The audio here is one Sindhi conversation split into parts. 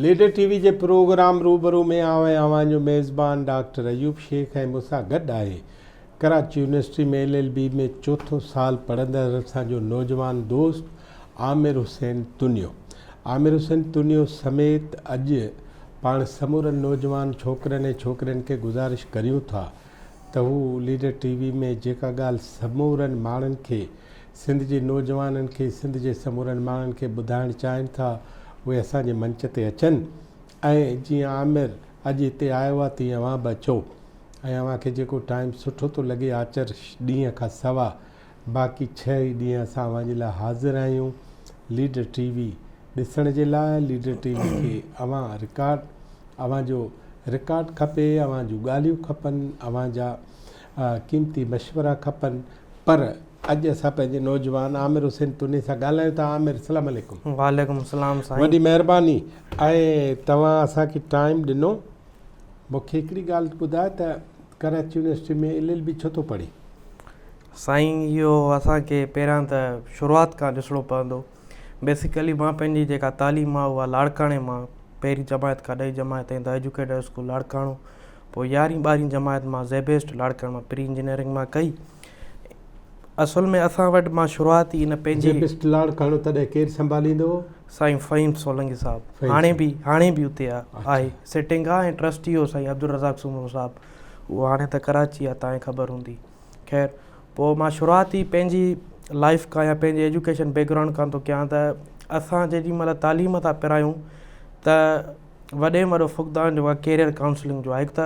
ليڊر ٽي وي جي پروگرام روبرو ۾ آئون ۽ اوهان جو ميزبان ڊاڪٽر ايوب شيخ ۽ مون سان گڏ آهي Karachi university ۾ L L B ۾ چوٿون سال پڙهندڙ اسان جو نوجوان دوست عامر حسين تنيو عامر حسين تنيو سميت اڄ پاڻ سمورن نوجوان ڇوڪرن ۽ ڇوڪرين کي گذارش ڪريون ٿا ته هو ليڊر ٽي وي ۾ جيڪا ڳالهه سمورن ماڻهن کي سنڌ جي نوجوانن کي سنڌ جي سمورن ماڻهن کي ٻڌائڻ چاهين ٿا اهي اسان جي منچ تي اچن ۽ جيئن عامر اڄ هتي آيو آهي تيئن اوهان به اچو ۽ اوهان کي جيڪو ٽائيم سٺو ٿو لڳي آچر ڏينهن کان سوا باقي ڇهه ئي ڏينهن اسان اوهان جي لاء حاضر آهيون ليڊر ٽي وي ڏسڻ جي لاء ليڊر ٽي وي کي اوهان رڪارڊ اوهان جو رڪارڊ کپي اوهان جون ڳالهيون کپن اوهان جا قيمتي مشورا کپن پر اڄ اسان پنهنجي نوجوان عامر حسين توني سان ڳالهايون ٿا عامر السلام عليڪم وعليڪم السلام سائين وڏي مهرباني ۽ توهان اسان کي ٽائيم ڏنو مونکي هڪڙي ڳالهه ٻڌاء ته Karachi university ۾ L L B ڇو ٿو پڙهين؟ سائين اهو اسان کي پهريان ته شروعات کان ڏسڻو پوندو بيسيڪلي مان پنهنجي جيڪا تعليم آهي اها لاڙڪاڻي مان پهرين جماعت کان ڏهين جماعت تائين دا ايجوڪيٽر اسڪول لاڙڪاڻو پوء يارهين ٻارهين جماعت مان زيبيسٽ لاڙڪاڻي مان پري انجنيئرنگ مان ڪئي اصل ۾ اسان وٽ مان شروعات ئي ان پنهنجي. جي بيسٽ لاڙ ڪاڻو تڏهن ڪير سنڀاليندو؟ سائين فهيم سولنگي صاحب هاڻي به هاڻي به اتي آهي سٽنگ آهي ۽ ٽرسٽي هو سائين عبدالرزاق سومرو صاحب اهو هاڻي ته ڪراچي آهي تانئين خبر هوندي خير پوء مان شروعات ئي پنهنجي لائف کان يا پنهنجي ايجوڪيشن بيڪ گرائونڊ کان ٿو ڪيان ته اسان جيڏي مهل تعليم ٿا پرايون ته وڏي ۾ وڏو فقدان جيڪو آهي ڪيريئر ڪائونسلنگ جو آهي هڪ ته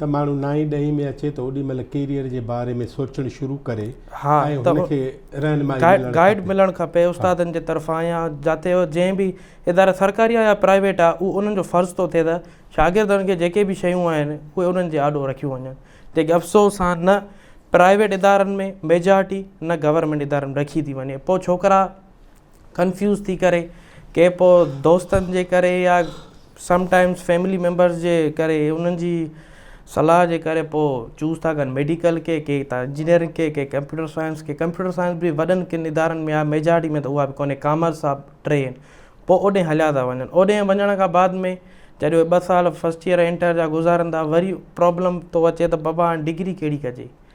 ته ماڻهو نائين ڏهين ۾ اچي ته اوڏي مهل ڪيريئر جي باري ۾ سوچڻ شروع ڪري ۽ هن کي رهنمائي ملڻ کپي. گائيڊ ملڻ کپي استادن جي طرفان يا جاتي جنهن به اداري سرڪاري آهي يا پرائيويٽ آهي اهو انهن جو فرض ٿو ٿئي ته شاگردن کي جيڪي به شيون آهن اهي انهن جي آڏو رکيون وڃن جيڪي افسوس سان نه پرائيويٽ ادارن ۾ ميجارٽي نه گورنمينٽ ادارن ۾ رکي ٿي وڃي پوء ڇوڪرا ڪنفيوز ٿي ڪري ڪي پو دوستن جي ڪري يا سم ٽائمز فيملي ميمبرز جي ڪري انهن جي صلاح جي ڪري پو چوز ٿا ڪن ميڊيڪل کي ڪي ٿا انجنيئرنگ کي ڪي ڪمپيوٽر سائنس کي ڪمپيوٽر سائنس به وڏن ڪن ادارن ۾ آهي ميجارٽي ۾ ته اها به ڪونهي ڪامرس آهي ٽي آهن پو اوڏي هليا ٿا وڃن اوڏي وڃڻ کان بعد ۾ جڏهن اهي ٻه سال فسٽ ايئر انٽر جا گذارن ٿا وري پرابلم ٿو اچي ته بابا هاڻي ڊگري ڪهڙي ڪجي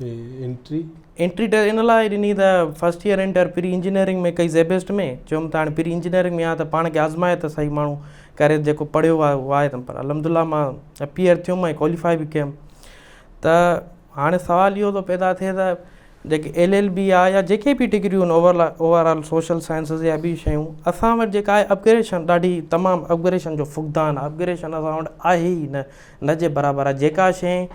انٽري؟ انٽري ته ان لاء ڏني ته first year inter pre engineering ۾ ڪئي زيبيسٽ ۾ چيم ته هاڻي پري انجنيئرنگ ۾ آ ته پاڻ کي آزمائي ته سهي ماڻهو ڪري جيڪو پڙهيو آ اهو آهي پر الحمدالله مان اپيئر ٿيم ۽ ڪواليفائي به ڪيم ته هاڻي سوال اهو ٿو پيدا ٿئي ته جيڪي ايل ايل بي آ يا جيڪي به ڊگريون آهن over overall social sciences يا ٻي شيون اسان وٽ جيڪا آهي اپگريشن ڏاڍي تمام اپگريشن جو فقدان آ اپگريشن اسان وٽ آهي ئي نه نه جي برابر آهي. جيڪا شيء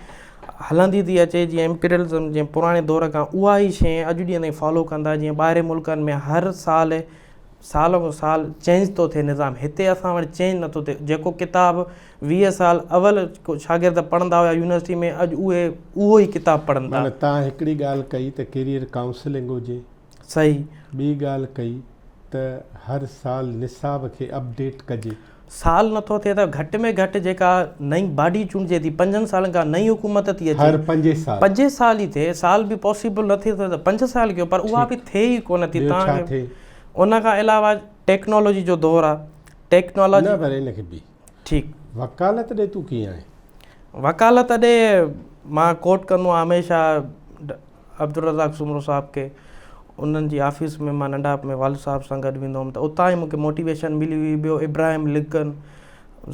هلندي ٿي اچي جيئن امپيريلزم جي پراڻي دور کان اها ئي شيء اڄ ڏينهن تائين فالو ڪن ٿا جيئن ٻاهرين ملڪن ۾ هر سال سال مون سال چينج ٿو ٿئي نظام هتي اسان وٽ چينج نٿو ٿئي جيڪو ڪتاب ويهه سال اول شاگرد پڙهندا هيا يونيورسٽي ۾ اڄ اهي اهو ئي ڪتاب پڙهن ٿا. معنيٰ تان هڪڙي ڳالهه ڪئي ته ڪيريئر ڪائونسلنگ هجي. صحيح. ٻي ڳالهه ڪئي ته هر سال نصاب کي اپ ڊيٽ ڪجي. سال نٿو ٿئي ته گهٽ ۾ گهٽ جيڪا نئين باڊي چونڊجي ٿي پنجن سالن کان نئين حڪومت ٿي اچي هر پنج سال پنج سال ئي ٿئي سال به پاسيبل نه ٿي ته پنج سال ڪيو پر اها به ٿئي ئي ڪونه ٿي تان ان کان علاوه ٽيڪنالاجي جو دور آهي ٽيڪنالاجي نه پر ان کي به. ٺيڪ. وڪالت ڏي تون ڪيئن آهين؟ وڪالت ڏي مان ڪوٽ ڪندو آهيان هميشه عبدالرزاق سومرو صاحب کي انهن جي آفيس ۾ مان ننڍاپ ۾ والد صاحب سان گڏ ويندو هوم ته اتان ئي مون کي موٽيويشن ملي هئي ٻيو ابراهيم لنڪن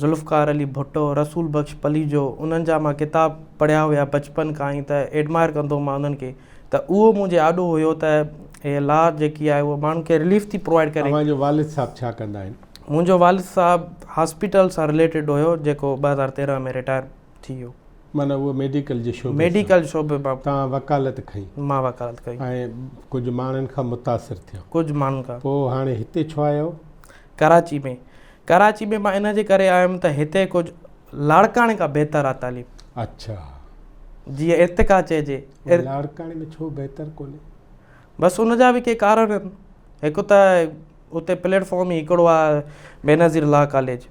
ذوالفقار علي ڀٽو رسول بخش پليجو انهن جا مان ڪتاب پڙهيا هيا بچپن کان ئي ته ايڊمائر ڪندو هوم انهن کي ته اهو منهنجي آڏو هيو ته هي لا جيڪي آهي اهو ماڻهن کي رليف ٿي پرووائيڊ ڪري. اوهان جو والد صاحب ڇا ڪندا آهن؟ منهنجو والد صاحب هاسپيٽل سان رليٽيڊ هيو جيڪو ٻه هزار تيرنهن ۾ رٽائر ٿي ويو. معنيٰ اهو ميڊيڪل جي شعبي سان. ميڊيڪل جي شعبي مان. توهان وڪالت کئي. مان وڪالت ڪئي. ۽ ڪجهه ماڻهن کان متاثر ٿيو. ڪجهه ماڻهن کان. پوء هاڻي هتي ڇو آيا هو؟ ڪراچي ۾. ڪراچي ۾ مان ان جي ڪري آيو هيم ته هتي ڪجهه لاڙڪاڻي کان بهتر آ تعليم. اڇا. جيئن ارتقا چئجي. لاڙڪاڻي ۾ ڇو بهتر ڪونهي؟ بس ان جا به ڪي ڪارڻ آهن. هڪ ته. اتي پليٽ فارم ئي هڪڙو آ بينظير لا ڪاليج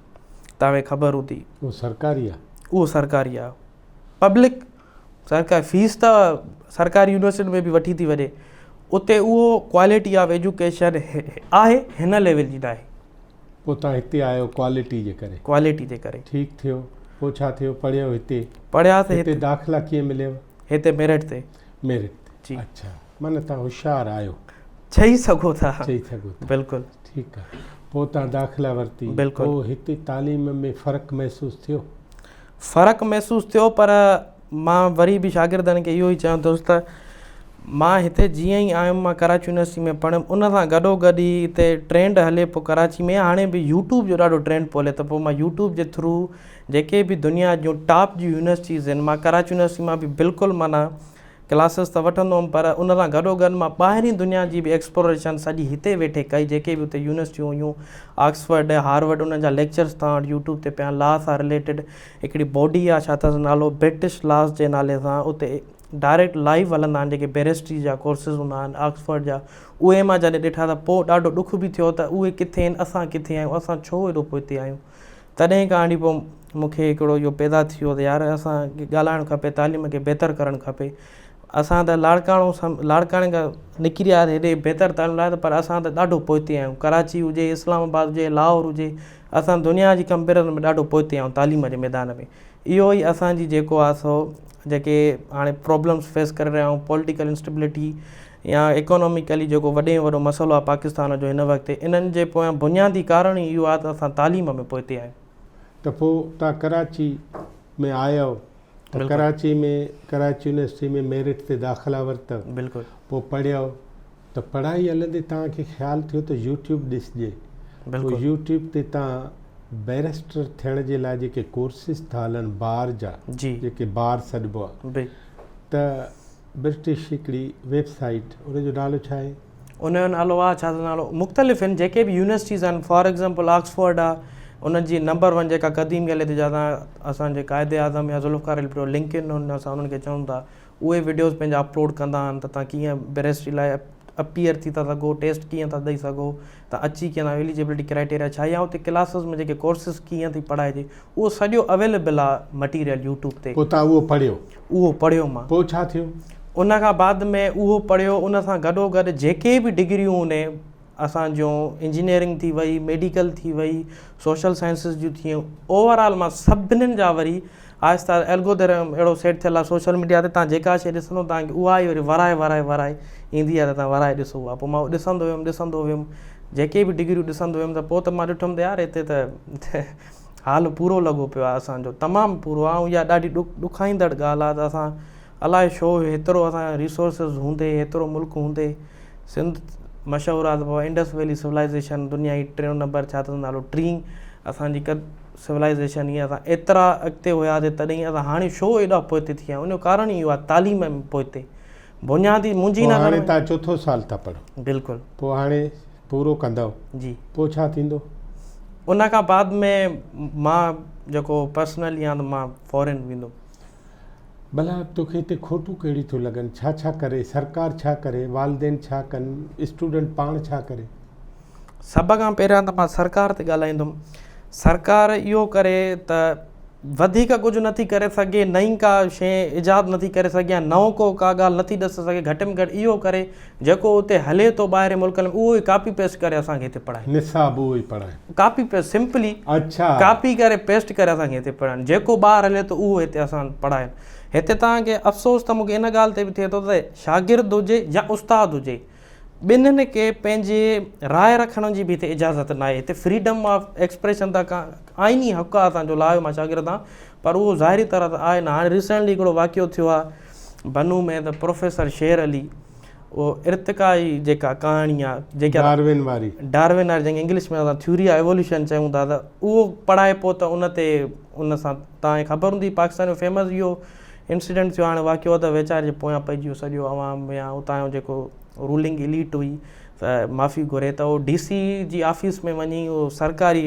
توهي خبر هوندي اهو سرڪاري آ اهو سرڪاري آ پبلڪ سرڪار فيس ته سرڪاري يونيورسٽي ۾ به وٺي ٿي وڃي اتي اهو ڪوالٽي آف ايجوڪيشن آهي هن ليول جي ناهي پوء تان هتي آيو ڪوالٽي جي ڪري ڪوالٽي جي ڪري ٺيڪ ٿيو پوء ڇا ٿيو پڙهيو هتي پڙهيا ته هتي داخلا ڪيئن مليو هتي ميرٽ تي ميرٽ جي اڇا معنيٰ تان هوشيار آهيو چئي سگهو ٿا چئي سگهو ٿا بلڪل ٺيڪ آهي پوء تان داخلا ورتي بلڪل پوء هتي تعليم ۾ فرق محسوس ٿيو فرق محسوس ٿيو پر مان وري به شاگردن کي اهو ئي چيان ٿو ته مان هتي جيئن ئي آيم مان ڪراچي يونيورسٽي ۾ پڙهيم ان سان گڏو گڏ ئي هتي ٽرينڊ هلي پيو ڪراچي ۾ هاڻي به يوٽيوب جو ڏاڍو ٽرينڊ پيو هلي ته پوء مان يوٽيوب جي ٿرو جيڪي به دنيا جون ٽاپ جون يونيورسٽيز آهن مان ڪراچي يونيورسٽي مان به بلڪل معنيٰ ڪلاسز ته وٺندو هئم پر ان سان گڏو گڏ مان ٻاهرين دنيا جي به ايڪسپلوريشن سڄي هتي ويٺي ڪئي جيڪي به هتي يونيورسٽيون هيون آڪسفرڊ ۽ هارورڊ انهن جا ليڪچرز توهان وٽ يوٽيوب تي پيا آهن لا سان رليٽيڊ هڪڙي باڊي آهي ڇا اٿس نالو برٽش لاز جي نالي سان اتي ڊائريڪٽ لائيو هلندا آهن جيڪي بيرسٽري جا ڪورسز هوندا آهن آڪسفرڊ جا اهي مان جڏهن ڏٺا ته پوء ڏاڍو ڏک به ٿيو ته اهي ڪٿي آهن اسان ڪٿي آهيون اسان ڇو هيڏو پوئتي آهيون تڏهن کان آڻي پوء مون کي هڪڙو اهو پيدا ٿي ويو ته يار اسان کي ڳالهائڻ کپي تعليم کي بهتر ڪرڻ کپي اسان ته لاڙڪاڻو سان لاڙڪاڻي کان نڪري آياسين هيڏي بهتر تعليم لاء پر اسان ته ڏاڍو پوئتي آهيون ڪراچي هجي اسلام آباد هجي لاهور هجي اسان دنيا جي ڪمپيرزن ۾ ڏاڍو پوئتي آهيون تعليم جي ميدان ۾ اهو ئي اسان جي جيڪو آ سو جيڪي هاڻي پرابلمس فيس ڪري رهيا آهيون پولٽيڪل انسٽيبلٽي يا ايڪانوميڪلي جيڪو وڏي ۾ وڏو مسئلو آهي پاڪستان جو هن وقت انهن جي پويان بنيادي ڪارڻ ئي اهو آهي ته اسان تعليم ۾ پوئتي آهيون. ته پوء تان ڪراچي ۾ آيئو ته ڪراچي ۾ ڪراچي يونيورسٽي ۾ ميرٽ تي داخلا ورتئو پوء پڙهيئو ته پڙهائي هلندي تان کي خيال ٿيو ته يوٽيوب ڏسجي پوء يوٽيوب تي تان بيرسٽر ٿيڻ جي لاء جيڪي ڪورسز ٿا هلن بار جا جيڪي بار سڏبو آهي ته برٽش هڪڙي ويب سائيٽ ان جو نالو ڇا آهي؟ ان جو نالو آ ڇا ته نالو مختلف ان جيڪي به يونيورسٽيز آهن فار ايگزامپل آڪسفورڊ آ ان جي نمبر ون جيڪا قديم ڳالهه تي جاتا اسان جي قائد اعظم يا ذوالفقار علي ڀٽو لنڪ ان ان اسان انهن کي چون ٿا اهي وڊيوز پنهنجا اپلوڊ ڪندا آهن ته تان ڪيئن بيرسٽري لاء اپيئر ٿي ٿا سگهو ٽيسٽ ڪيئن ٿا ڏئي سگهو ته اچي ڪي نه ايليجبلٽي ڪرائيٽيريا ڇا يا اتي ڪلاسز ۾ جيڪي ڪورسز ڪيئن ٿي پڙهائجي اهو سڄو اويليبل آ مٽيريل يوٽيوب تي. پوء توهان اهو پڙهيو؟ اهو پڙهيو مان. پوء ڇا ٿيو؟ ان کان بعد ۾ اهو پڙهيو ان سان گڏو گڏ جيڪي به ڊگريون هوني اسان جون انجنيئرنگ ٿي وئي ميڊيڪل ٿي وئي سوشل سائنسز جون ٿيون اوور آل مان سڀنين جا وري آهسته آهسته الگودرم اهڙو سيٽ ٿيل آهي سوشل ميڊيا تي تان جيڪا شيء ڏسندو تان کي اها ئي وري ورائي ورائي ورائي ايندي آهي ته تان ورائي ڏسو اها پوء مان اهو ڏسندو ويم ڏسندو ويم جيڪي به ڊگريون ڏسندو ويم ته پوء ته مان ڏٺم ته يار هتي ته حال پورو لڳو پيو آهي اسان جو تمام پورو آهي ۽ اها ڏاڍي ڏک ڏکائيندڙ ڳالهه آهي ته اسان الاء ڇو هيترو اسان کي ريسورسز هوندي هيترو ملڪ هوندي سنڌ مشهور آهي ته بابا انڊس ويلي سولائيزيشن دنيا جي ٽيون نمبر ڇا اٿس نالو ٽين اسان جي قد سولائيزيشن هي اسان ايترا اڳتي هياسي تڏهن اسان هاڻي ڇو ايڏا پوئتي ٿي ويا آهيون ان جو ڪارڻ اهو آهي تعليم ۾ پوئتي بنيادي منهنجي پوء هاڻي تان چوٿو سال ٿا پڙهو بلڪل پوء هاڻي پورو ڪندؤ جي پوء ڇا ٿيندو ان کان بعد ۾ مان جيڪو پرسنلي آهيان ته مان فارين ويندم ڀلا توکي هتي کوٽون ڪهڙيون ٿيون لڳن ڇا ڇا ڪري سرڪار ڇا ڪري والدين ڇا ڪن اسٽوڊنٽ پاڻ ڇا ڪري. سڀ کان پهريان ته مان سرڪار تي ڳالهائيندم سرڪار اهو ڪري ته وڌيڪ ڪجهه نٿي ڪري سگهي نئين ڪا شيء ايجاد نٿي ڪري سگهي يا نئون ڪو ڪا ڳالهه نٿي ڏسي سگهي گهٽ ۾ گهٽ اهو ڪري جيڪو اتي هلي ٿو ٻاهرين ملڪن ۾ اهو ئي ڪاپي پيسٽ ڪري اسان کي هتي پڙهائين. نصاب اهو ئي پڙهائين. ڪاپي پيسٽ سمپلي اڇا. ڪاپي ڪري پيسٽ ڪري اسان کي هتي پڙهائين جيڪو ٻاهر هلي ٿو اهو هتي اسان پڙهائين هتي توهان کي افسوس ته مون کي ان ڳالهه تي به ٿئي ٿو ته شاگرد هجي يا استاد هجي ٻنهن کي پنهنجي راء رکڻ جي به هتي اجازت ناهي هتي فريڊم آف ايڪسپريشن ته ڪا آئيني حق آهي اسان جو لايو مان شاگرد آهان پر اهو ظاهري طرح ته آهي نه. هاڻي ريسينٽلي هڪڙو واقعو ٿيو آهي بنو ۾ ته پروفيسر شير علي اهو ارتقا جي جيڪا ڪهاڻي آهي جيڪا ڊارون واري ڊارون واري جنهن کي انگلش ۾ اسان ٿيوري آف ايووليوشن چيون ٿا ته اهو پڙهائبو ته ان تي ان سان تان کي خبر هوندي پاڪستان جو فيمس اهو انسيڊنٽ ٿيو هاڻي واقعو ته ويچاري جي پويان پئجي ويو سڄو عوام يا اتان جو جيڪو رولنگ اليٽ هئي ته معافي گهري ته اهو ڊي سي جي آفيس ۾ وڃي اهو سرڪاري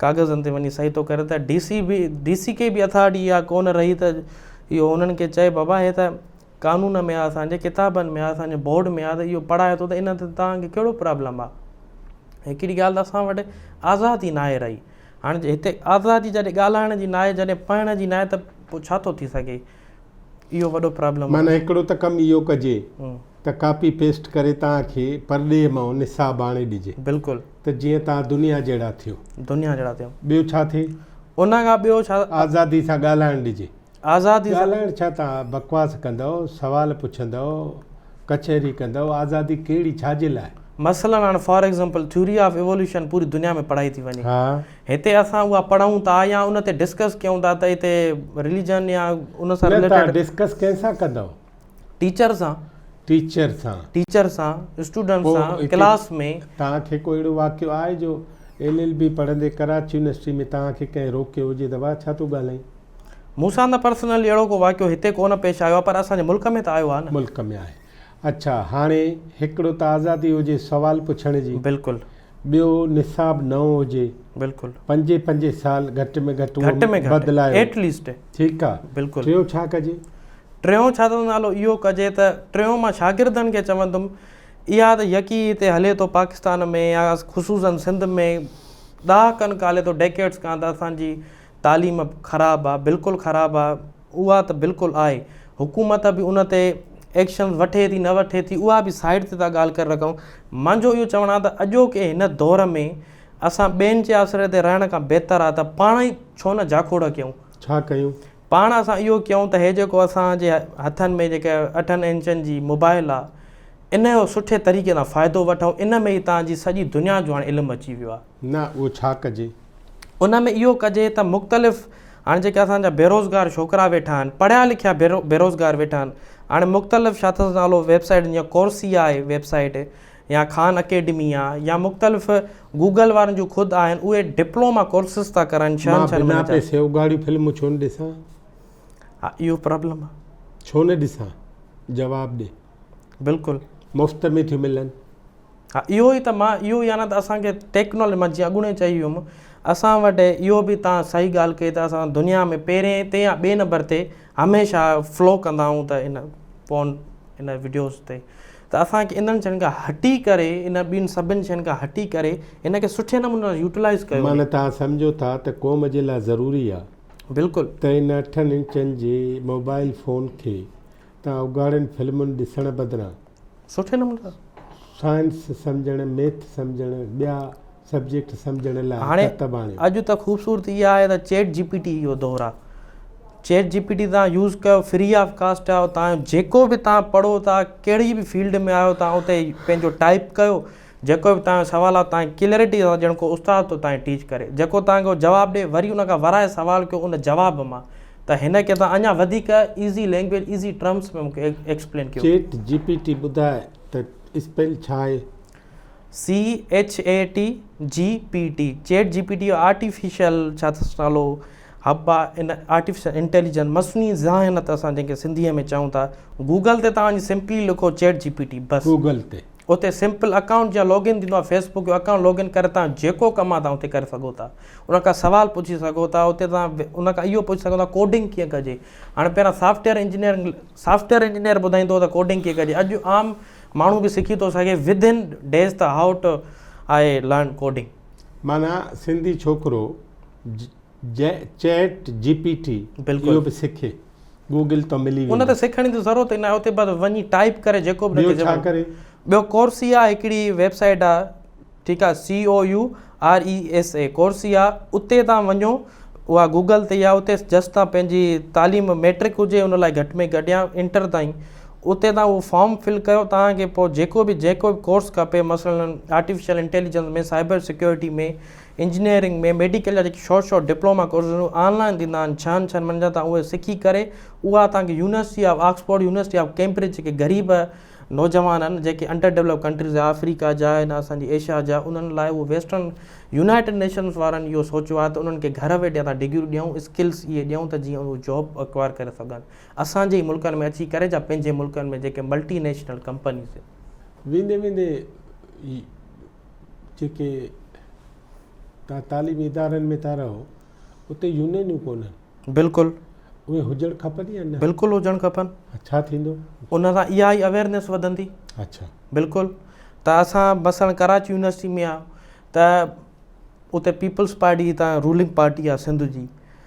ڪاغذن تي وڃي صحي ٿو ڪري ته ڊي سي به ڊي سي کي به اٿارٽي اها ڪونه رهي ته اهو انهن کي چئي بابا هي ته قانون ۾ آهي اسانجي ڪتابن ۾ آهي اسانجي بورڊ ۾ آهي ته اهو پڙهائي ٿو ته ان تي توهانکي ڪهڙو پرابلم آهي هڪڙي ڳالهه ته اسان وٽ آزادي ناهي رهي هاڻي جي هتي آزادي جڏهن ڳالهائڻ جي ناهي جڏهن پڙهڻ جي ناهي ته پوء ڇا ٿو ٿي سگهي اهو وڏو پرابلم معنيٰ هڪڙو ته ڪم اهو ڪجي ته ڪاپي پيسٽ ڪري توهانکي پرڏيهه مان نصاب آڻي ڏجي بلڪل ته جيئن توهان دنيا جهڙا ٿيو. دنيا جهڙا ٿيو. ٻيو ڇا ٿئي؟ ان کان ٻيو ڇا؟ آزادي سان ڳالهائڻ ڏجي. آزادي سان. ڳالهائڻ ڇا توهان بڪواس ڪندؤ، سوال پڇندؤ، ڪچهري ڪندؤ، آزادي ڪهڙي ڇا جي لاء؟ مثلاً هاڻ for example theory of evolution پوري دنيا ۾ پڙهائي ٿي وڃي. ها. هتي اسان اها پڙهون ٿا يا ان تي ڊسڪس ڪيون ٿا ته هتي رليجن يا ان سان رليٽيڊ. نه توهان ڊسڪس ڪنهن سان ڪندؤ؟ ٽيچر سان. ٽيچر سان. ٽيچر سان، اسٽوڊنٽ سان، ڪلاس ۾. توهان کي ڪو اهڙو واقعو آهي جو ايل ايل بي پڙهندي ڪراچي يونيورسٽي ۾ توهان کي ڪنهن روڪيو هجي ته واهه ڇا ٿو ڳالهائين؟ مون سان ته پرسنلي اهڙو ڪو واقعو هتي ڪو نه پيش آيو آهي پر اسان جي ملڪ ۾ ته آيو آهي نه. ملڪ ۾ آهي. اڇا هاڻي هڪڙو ته آزادي هجي سوال پڇڻ جي. بلڪل. ٻيو نصاب نئون هجي بلڪل پنجين پنجين سال گهٽ ۾ گهٽ گهٽ ۾ گهٽ بدلايو ايٽ ليسٽ ٺيڪ آ بلڪل ٽيون ڇا ڪجي ٽيون ڇا ٿو نالو اهو ڪجي ته ٽيون مان شاگردن کي چوندم اها ته يڪي هتي هلي ٿو پاڪستان ۾ يا خصوصن سنڌ ۾ ڏهاڪن کان هلي ٿو ڊيڪيڊس کان ته اسانجي تعليم خراب آ بلڪل خراب آ اها ته بلڪل آهي حڪومت به ان تي ايڪشنز وٺي ٿي نه وٺي ٿي اها به سائيڊ تي ٿا ڳالهه ڪري رکون منهنجو اهو چوڻ آهي ته اڄوڪي هن دور ۾ اسان ٻين جي آسري تي رهڻ کان بهتر آهي ته پاڻ ئي ڇو نه جاکوڙ ڪيون ڇا ڪيون پاڻ اسان اهو ڪيون ته هي جيڪو اسان جي هٿن ۾ جيڪا اٺن انچن جي موبائل آهي ان جو سٺي طريقي سان فائدو وٺون ان ۾ ئي تانجي سڄي دنيا جو هاڻي علم اچي ويو آهي نه اهو ڇا ڪجي؟ ان ۾ اهو ڪجي ته مختلف هاڻي جيڪي اسان جا بيروزگار ڇوڪرا ويٺا آهن، پڙهيا لکيا بيروزگار ويٺا آهن، هاڻي مختلف ڇا اٿس نالو ويب سائيٽ جيئن ڪورسيا آهي ويب سائيٽ يا خان اڪيڊمي آ يا مختلف گوگل وارن جون خود آهن اهي ڊپلوما ڪورسز ٿا ڪرائن ڇهن مان ڇهن بنا مهينن جا پئسي اگهاڙيون فلمون ڇو نه ڏسان؟ ها اهو پرابلم آ. ڇو نه ڏسان؟ جواب ڏي. بلڪل مفت ۾ ٿيون ملن. ها اهو ئي ته مان اهو يعنيٰ ته اسان کي ٽيڪنالوجي مان جيئن اڳوڻي چئي ويم اسان وٽ اهو به تان صحيح ڳالهه ڪئي ته اسان دنيا ۾ پهرين تي يا ٻئي نمبر تي هميشه فلو ڪندا آهيون ته ان فون ان وڊيوز تي ته اسانکي انهن شين کان هٽي ڪري ان ٻين سڀن شين کان هٽي ڪري هن کي سٺي نموني سان يوٽلائز ڪيو معنيٰ توهان سمجهو ٿا ته قوم جي لاء ضروري آهي بلڪل ته ان اٺن انچن جي موبائل فون کي تان اگهاڙين فلمن ڏسڻ بدران سٺي نموني سائنس سمجهڻ، ميٿ سمجهڻ، ٻيا سبجيڪٽ سمجهڻ لاء هاڻي ڪتب آڻيو. اڄ ته خوبصورتي اها آهي ته چيٽ جي پي ٽي جو دور آهي. چيٽ جي پي ٽي تان يوز ڪيو فري آف ڪاسٽ آهي تان جيڪو به تان پڙهو ٿا ڪهڙي به فيلڊ ۾ آهيو تان اتي پنهنجو ٽائپ ڪيو. جيڪو به توهان جو سوال آهي توهان کي ڪليئرٽي سان ڄڻ ڪو استاد ٿو توهان کي ٽيچ ڪري جيڪو توهان کي هو جواب ڏي وري ان کان ورائي سوال ڪيو ان جواب مان ته هن کي توهان اڃا وڌيڪ ايزي لينگويج ايزي ٽرمس ۾ مونکي ايڪسپلين ڪيو. چيٽ جي پي ٽي ٻڌاء ته اسپيل ڇا آهي؟ C H A T G P T Chat G P T اهو آرٽيفيشل ڇا اٿس نالو حب آهي ان آرٽيفيشل انٽيليجنس مصنوعي ذهانت اسان جنهن کي سنڌيء ۾ چئون ٿا گوگل تي توهان وڃي سمپلي لکو چيٽ جي پي ٽي بس گوگل تي اتي سمپل اڪائونٽ جا لوگ ان ٿيندو آهي فيس بڪ جو اڪائونٽ لوگ ان ڪري تان جيڪو ڪم آهي تان اتي ڪري سگهو ٿا ان کان سوال پڇي سگهو ٿا اتي تان ان کان اهو پڇي سگهو ٿا ڪوڊنگ ڪيئن ڪجي هاڻي پهريان سافٽويئر انجنيئر سافٽويئر انجنيئر ٻڌائيندو ته ڪوڊنگ ڪيئن ڪجي اڄ عام ماڻهو به سکي ٿو سگهي ود ان ڊيز ته how to I learn coding. معنيٰ سنڌي ڇوڪرو چيٽ جي پي ٽي اهو به سکي گوگل تان ملي ويندو ان تي سکڻ جي ضرورت ئي ناهي اتي بس وڃي ٽائپ ڪري جيڪو به ٻيو ڇا ڪري ٻيو ڪورسيا هڪڙي ويب سائيٽ آ ٺيڪ آ C O U R E S E Coursera اتي تان وڃو اها گوگل تي آ اتي جسٽ تان پنهنجي تعليم ميٽرڪ هجي ان لاء گهٽ ۾ گهٽ يا انٽر تائين اتي تان اهو فارم فل ڪيو توهان کي پوء جيڪو به جيڪو به ڪورس کپي مثلا artificial intelligence ۾ cyber security ۾ engineering ۾ medical جا جيڪي short short diploma courses online ٿيندا آهن ڇهن ڇهن مهينن جا تان اهي سکي ڪري اها تان کي university of Oxford university of Cambridge جيڪي غريب نوجوان آهن جيڪي انڊر ڊيولپ ڪنٽريز جا آفريڪا جا آهن اسان جي ايشيا جا انهن لاء اهو ويسٽرن يونائيٽيڊ نيشنز وارن اهو سوچيو آهي ته انهن کي گهر ويٺي اسان ڊگريون ڏيون اسڪلس اهي ڏيون ته جيئن اهو جاب اڪوائر ڪري سگهن اسان جي ئي ملڪن ۾ اچي ڪري جا پنهنجي ملڪن ۾ جيڪي ملٽي نيشنل ڪمپنيز ويندي ويندي جيڪي تان تعليمي ادارن ۾ ٿا رهو اتي يونينيون ڪونهن بلڪل اهي هجڻ کپن يا نه بلڪل هجڻ کپن ڇا ٿيندو ان سان اها ئي اويرنس وڌندي اچھا بلڪل ته اسان مثلا ڪراچي يونيورسٽي ۾ آ ته اتي پيپلز پارٽي هتان رولنگ پارٽي آ سنڌ جي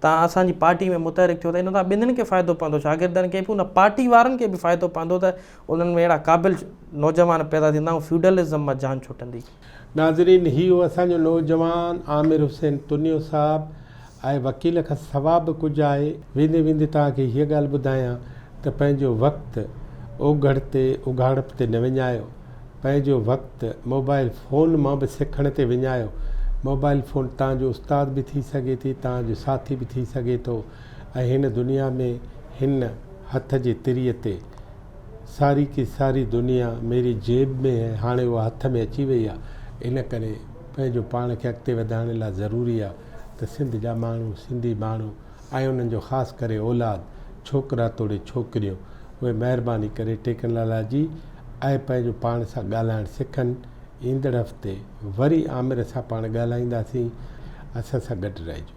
تان اسان جي پارٽي ۾ متحرڪ ٿيو ته ان تان ٻنھين کي فائدو پوندو شاگردن کي به ان پارٽي وارن کي به فائدو پوندو ته انھن ۾ اھڙا قابل نوجوان پيدا ٿيندا ۽ فيوڊلزم مان جان ڇٽندي. ناظرين ھي ھو اسان جو نوجوان عامر حسين تنيو صاحب ۽ وڪيل کان سوا به ڪجهه آھي. ويندي ويندي توھان کي ھيء ڳالھ ٻڌايان ته پنھنجو وقت اوگھڙ تي اگھاڙپ تي نه وڃايو. پنهنجو وقت موبائل فون مان به سکڻ تي وڃايو. موبائل فون توهان جو استاد به ٿي سگهي ٿي، توهان جو ساٿي به ٿي سگهي ٿو ۽ هن دنيا ۾ هن هٿ جي تري تي ساري ڪي ساري دنيا ميري جيب مين هي هاڻي اها هٿ ۾ اچي وئي آهي ان ڪري پنهنجو پاڻ کي اڳتي وڌائڻ لاء ضروري آهي ته سنڌ جا ماڻهو سنڌي ماڻهو ۽ انهن جو خاص ڪري اولاد، ڇوڪرا توڙي ڇوڪريون، اهي مهرباني ڪري ٽيڪنالاجي ۽ پنهنجو پاڻ سان ڳالهائڻ سکن، ايندڙ هفتي وري عامر سان پاڻ ڳالهائينداسين، اسان سان گڏ رهجو.